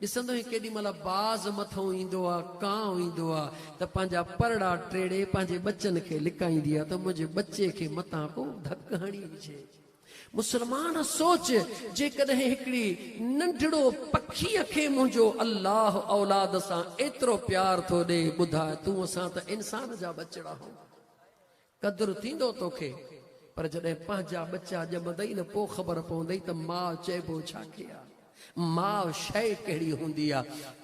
ڏسندوئين ڪيڏي مھل باز مٿئون ايندو آ، ڪانء ايندو آ ته پنھنجا پرڙا ٽيڙي پنھنجي ٻچن کي لڪائيندي آ ته منھنجي ٻچي کي متان ڪو ڌڪ ھڻي وجھي. مسلمان سوچ جيڪڏھن ھڪڙي ننڍڙو پکيء کي منھنجو الله اولاد سان ايترو پيار ٿو ڏئي ٻڌاء تون اسان ته انسان جا ٻچڙا ھون قدر ٿيندو توکي پر جڏهن پنهنجا ٻچا ڄمندئي نه پو خبر پوندئي ته ماء چئبو ڇا کي آ ماء شئي ڪهڙي هوندي آ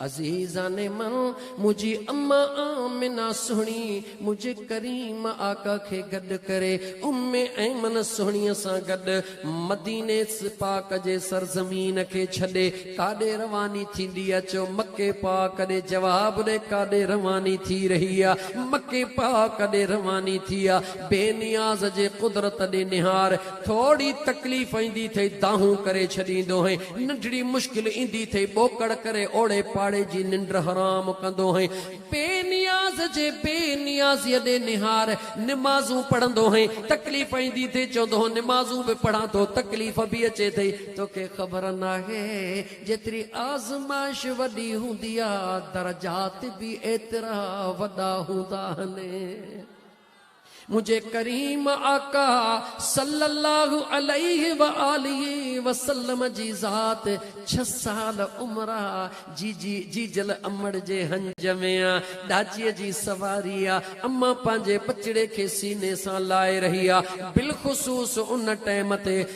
عزيزان من منهنجي اما آمنه سهڻي منهنجي ڪريم آقا کي گڏ ڪري ام ايمن سهڻي سان گڏ مديني پاڪ جي سرزمين کي ڇڏي ڪاڏي رواني ٿيندي اچو مڪي پاڪ ڏي جواب ڏي ڪاڏي رواني ٿي رهي آ مڪي پاڪ ڏي رواني ٿي آ بي نياز جي قدرت ڏي نهار ٿورڙي تڪليف ايندي ٿئي دانهون ڪري ڇڏيندو هين ننڍڙي مشڪل ايندي ٿئي ٻوڪڙ ڪري اوڙي پاڙي جي ننڊ حرام ڪندو هين بي نياز جي بي نيازيء ڏي نهار، نمازون پڙهندو هئين، تڪليف ايندي ٿي، چوندو هو نمازون به پڙهان ٿو، تڪليف به اچي ٿي، توکي خبر ناهي، جيتري آزمائش وڏي هوندي آ، درجات به ايترا وڏا هوندا آهن. منهنجي ڪريم آقا صلّي اللّٰه عليه واٰله وسلّم جي ذات ڇهه سال عمر آ، جي جي جيجل امڙ جي هنج ۾ آ، ڏاچيء جي سواري آ، اما پنهنجي ٻچڙي کي سيني سان لائي رهي آ، بالخصوص ان ٽيم تي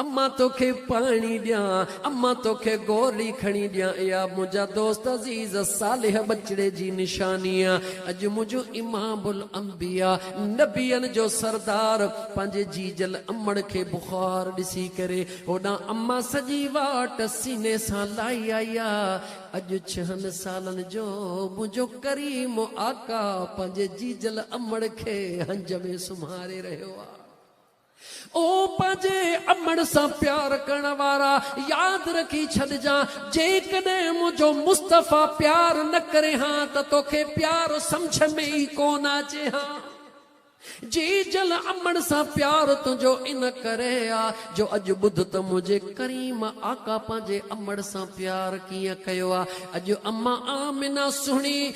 امان توکي پاڻي ڏيان، امان توکي گولي کڻي ڏيان، اها منهنجا دوست عزيز صالح ٻچڙي جي نشاني آ، اڄ منهنجو امام الانبياء نبين جو سردار پنهنجي جيجل امڙ کي بخار ڏسي ڪري هوڏانهن امان سڄي واٽ سيني سان لائي آئي آ، اڄ ڇهن سالن جو منهنجو ڪريم آقا پنهنجي جيجل امڙ کي هنج ۾ سمهاري رهيو آ. او پنهنجي امڙ سان پيار ڪرڻ وارا ياد رکي ڇڏجان جيڪڏهن منهنجو مصطفيٰ پيار نه ڪرين ها ته توکي پيار سمجهه ۾ ئي ڪونه اچي ها جي جل امڙ سان پيار تنهنجو ان ڪري آ جو اڄ ٻڌ ته منهنجي ڪريم آقا پنهنجي امڙ سان پيار ڪيئن ڪيو آ اڄ امان آمنه سهڻي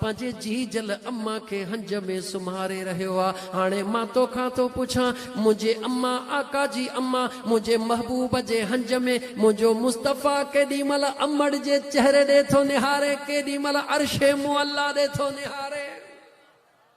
پنهنجي جيجل اما کي هنج ۾ سمهاري رهيو آ، هاڻي مان توکان ٿو پڇان، منهنجي اما، آقا جي اما، منهنجي محبوب جي هنج ۾، منهنجو مصطفيٰ ڪيڏي مهل امڙ جي چهري ڏي ٿو نهاري، ڪيڏي مهل عرش معليٰ ڏي ٿو نهاري.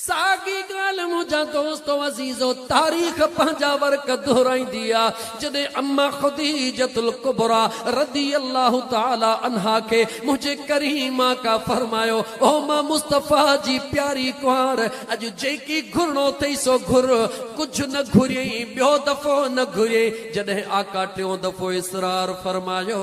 ساڳي ڳالهه منهنجا دوستو عزيزو تاريخ پنهنجا ورق دهرائيندي آ جڏهن اما خديجة الڪبريٰ رضي الله تعالي عنها کي منهنجي ڪريم آقا فرمايو او مان مصطفيٰ جي پياري ڪنوار اڄ جيڪي گهرڻو اٿئي سو گهر ڪجهه نه گهريئين ٻيو دفعو نه گهريئين جڏهن آقا ٽيون دفعو اصرار فرمايو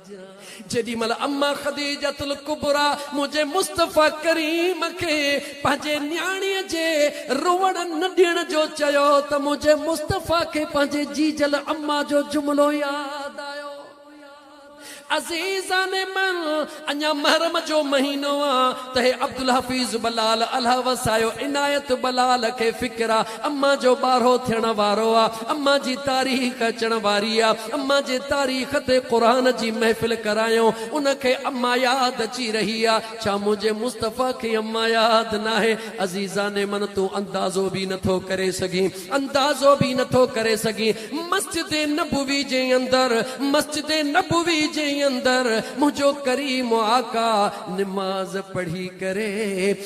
جيڏي مھل اما خديجة الڪبريٰ منھنجي مصطفيٰ ڪريم کي پنھنجي نياڻيء جي روئڻ نه ڏيڻ جو چيو ته منھنجي مصطفيٰ کي پنھنجي جيجل اما جو جملو ياد آيو عزيزان من اڃا محرم جو مھينو آ ته ھي عبدالحفيظ بلال الھ وسايو عنايت بلال کي فڪر آ امان جو ٻارهو ٿيڻ وارو آ، امان جي تاريخ اچڻ واري آ، امان جي تاريخ تي قرآن جي محفل ڪرايون، ان کي امان ياد اچي رهي آ، ڇا منهنجي مصطفيٰ کي امان ياد ناهي، عزيزان من تون اندازو به نٿو ڪري سگهين، اندازو به نٿو ڪري سگهين، مسجد نبوي جي اندر، مسجد نبوي جي اندر منهنجو ڪريم آقا نماز پڙهي ڪري،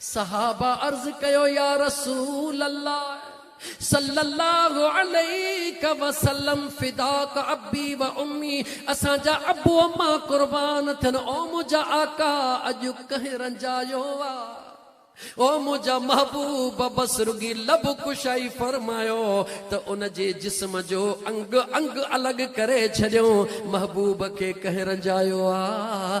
صحابه عرض ڪيو يا رسول الله صلّي الله عليك وسلّم فداک ابّي و امّي اسان جا ابو اما قربان ٿين او منهنجا آقا اڄ ڪنهن رنجايو آ او منهنجا محبوب بس رڳي لب ڪشائي فرمايو ته ان جي جسم جو انگ انگ الڳ ڪري ڇڏيو محبوب کي ڪنهن رنجايو آ